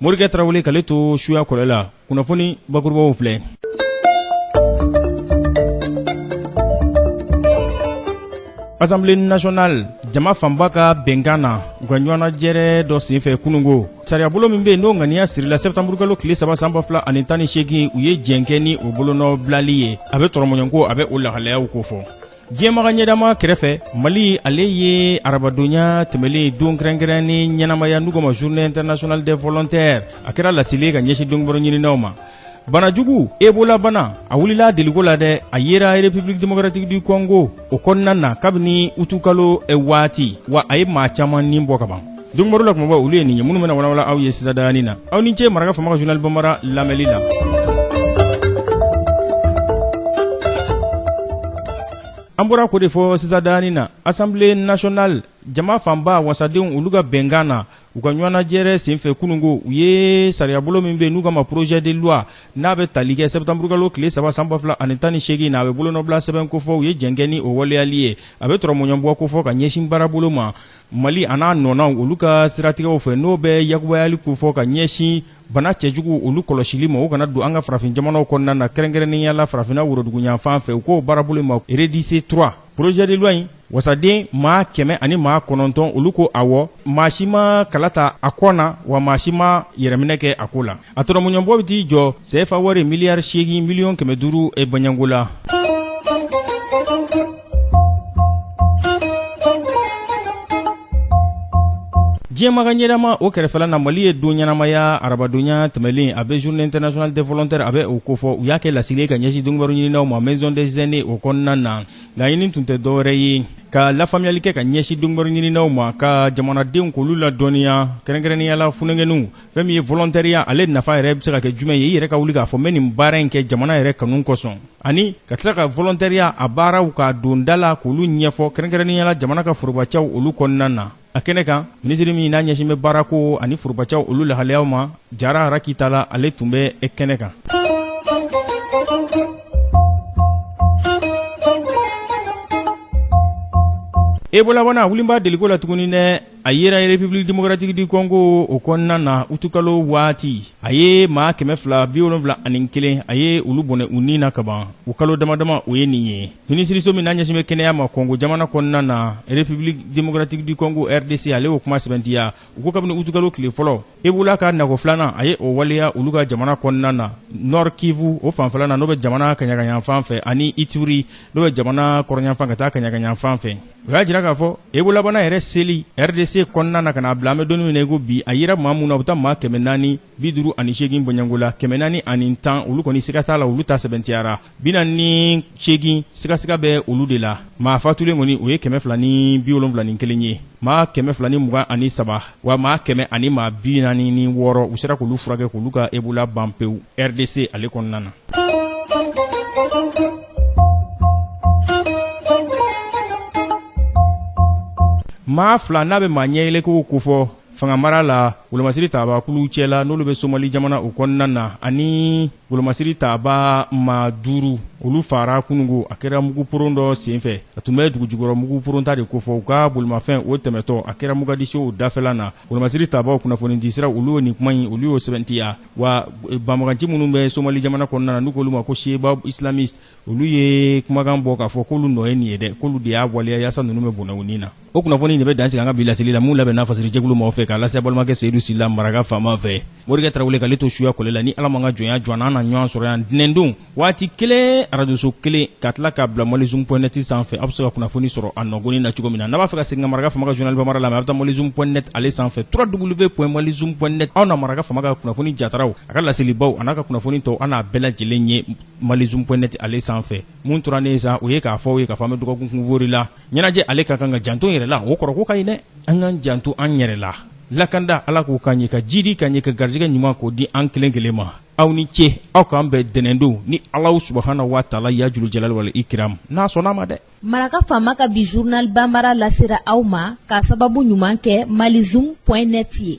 morikɛ tarawele k'ale to suya kɔlɛ la kunnafoni bakurubaw filɛ assemblée nationale jama fanba ka bɛnkan na u ka ɲɔgɔnnajɛrɛ dɔ senfɛ kunungo sariyabolo min bɛ yen n'o ŋaniya sirila sɛptanburukalo tile saba san ba fila ani tan ni seegin u ye jɛn kɛ ni o bolonɔ bilali ye a bɛ tɔrɔmɔɲɔgɔnko a bɛ o lahalayaw kofɔ diɲɛmaga ɲɛdama kɛrɛfɛ mali ale ye arabadonya tɛmɛlen don kɛrɛnkɛrɛnnen ɲɛnamaya n'u k'o ma journée internationale des volontaires a kɛra laseli ka ɲɛsin dunkibaru ɲininaw ma bana jugu ebola bana a wulila deliko la dɛ a yera republique démocratique du congo o kɔnɔna na kabini utukalo eh, waati wa a ye maa caman ni bɔ kaban dunkibaru la kunba olu ye nin ye minnu bɛna walawala aw ye sisan ta in na aw ni ce mara fanga journal banbara lamɛnli la an bɔra ko de fɔ sisan ta in na assemblée nationale jama fanba wasadenw olu ka bɛnkan na u ka ɲɔgɔnnajɛrɛ senfɛ kunungo u ye sariyabolo min bɛ n'u k'a ma projet de loi n'a bɛ tali kɛ sɛptanburukalo tile saba san ba fila ani tan ni seegin na a bɛ bolonɔbila sɛbɛn kofɔ u ye jɛn kɛ ni o waleyali ye a bɛ tɔrɔmɔɲɔgɔnbɔ kofɔ ka ɲɛsin baarabolo ma Mali a n'a nɔnaw olu ka siratigɛw fɛ n'o bɛ yakubayali ko fɔ ka ɲɛsin bana cɛjugu olu kɔlɔsili ma o kana don an ka farafin jamanaw kɔnɔna na kɛrɛnkɛrɛnnenya la farafinna woroduguyanfan fɛ u k'o baarabolo ma redisse 3 projet de loi in wasaden maa kɛmɛ ani maa kɔnɔntɔn olu ko awɔ maa si ma kala ta a kɔ na wa maa si ma yɛrɛminɛ kɛ a ko la a tɔrɔmɔɲɔgɔnbɔ bɛ t'i jɔ sefa wari miliyari seegin miliyɔn kɛmɛ duuru e bɔɲɛko la diɲɛmaga ɲɛdama o kɛrɛfɛla na mali ye don ɲɛnamaya arabadonya tɛmɛlen a bɛ journée internationale des volontaires a bɛ o kofɔ u y'a kɛ laseli ye ka ɲɛsin dunkibaru ɲininaw ma maison des aînés o kɔnɔna na laɲini tun tɛ dɔwɛrɛ ye ka lafaamuyali kɛ ka ɲɛsin dunkibaru ɲininaw ma ka jamanadenw k'olu ladɔnniya kɛrɛnkɛrɛnnenya la funankɛninw fɛn min ye volontariat ale nafa yɛrɛ bɛ se ka kɛ jumɛn ye i yɛrɛ ka wuli k'a fɔ n bɛ nin baara in kɛ jamana yɛrɛ kanu kosɔn ani ka tila ka volontariat a baaraw ka don da la k'olu ɲɛfɔ kɛrɛnkɛrɛnnenya la jamana ka forobacaw olu kɔnɔna na a kɛnɛ kan minisiri min n'a ɲɛsin bɛ baarako ani forobacaw olu lahalayaw ma jara raki tala ale tun bɛ kɛnɛ kan ebola bana wulila deliko la tuguni dɛ a yera republique démocratique du congo o kɔnɔna na utukalo waati a ye maa kɛmɛ fila bi wolonfila ani kelen a ye olu bɔnɛ u ni na kaban o kalo damadama o ye nin ye minisiriso min n'a ɲɛsin bɛ kɛnɛya ma congo jamana kɔnɔna na republique démocratique du congo rdc ale y'o kuma sɛmɛntiya u ko kabini utukalo tile fɔlɔ ebola ka nago filanan a ye o waleya olu ka jamana kɔnɔna na nord kivu o fanfɛla na n'o bɛ jamana kaɲagaɲanfan fɛ ani ituri n'o bɛ jamana kɔrɔɲanfan ka taa kaɲagaɲanfan fɛ o y'a jira k'a fɔ ebolabana yɛrɛ seli rdc kɔnɔna na ka na bila an bɛ don nin min na i ko bi a yera maa minnu na u bɛ taa maa kɛmɛ naani bi duuru ani seegin bɔɲɛngo la kɛmɛ naani ani tan olu kɔni siga t'a la olu ta sɛbɛntiyara Bi naani ni seegin sigasiga bɛ olu de la maa fatulen kɔni o ye kɛmɛ fila ni bi wolonwula ni kelen ye maa kɛmɛ fila ni mugan ani saba wa maa kɛmɛ ani maa bi naani ni wɔɔrɔ u sera k'olu furakɛ k'olu ka ebola ban pewu rdc ale kɔnɔna na maa fila n'a bɛ maa ɲɛyɛlɛko kofɔ fangamara la wolomasiri taabakulu cɛla n'olu bɛ somali jamana o kɔnɔna na ani wolomasiri taaba maa duuru olu fara kunungo a kɛra muguporon dɔ senfɛ a tun bɛ dugujukɔrɔ muguporon ta de kofɔ u ka bolimafɛn o tɛmɛtɔ a kɛra mogadiscio dafɛla na wolomasiri taabaw kunnafonidisira olu y'o nin kuma in olu y'o sɛbɛntiya wa banbaganci minnu bɛ somali jamana kɔnɔna na n'u k'olu ma ko shebab islamiste olu ye kumakan bɔ k'a fɔ k'olu nɔ ye nin ye dɛ k'olu de y'a waleya yaasa ninnu bɛ bɔnɛ u ni na o kunnafoni de bɛ dansigi an ka bi laseli la minnu labɛnna fasirijɛkulu maaw fɛ k'a lase balimakɛ seyidu sila maraka faama fɛ morikɛ tarawele k'ale to suya kɔlɛ la ni ala ma ka jɔnya jɔ an na an na ɲɔgɔn sɔrɔ yan ntɛnɛndon waati kelen arajoso kelen ka tila k'a bila malizoom point net sanfɛ aw bɛ se ka kunnafoni sɔrɔ a nɔgɔnin na cogo min na n'a b'a fɛ ka segin ka maraka faama ka journal banbara lamɛn a bɛ taa malizoom point net ale sanfɛ www.malizoom point net aw na maraka faama ka kunnafoni jataraw a ka laselibaw an'a ka kunnafoni tɔw an n'a bɛɛ lajɛlen ye malizoom point net ale sanfɛ mun tora ne ye sa o ye k'a fɔ aw ye k'a fɔ an bɛ dɔgɔkun kunfori la ɲɛnajɛ ale ka kan ka janto yɛrɛ la o kɔrɔ ko ka ɲi dɛ an k'an janto an yɛrɛ la lakanda ala k'o k'an ye ka jidi k'an ye ka garijɛgɛ ɲuman k'o di an kelen kelen ma aw ni ce aw k'an bɛn ntɛnɛndon ni alahu subahana wa taala ya julu jalali wali ikiram n'a sɔnna ma dɛ maraka faama ka bi journal banbara lasera aw ma k'a sababu ɲuman kɛ malizoom point net ye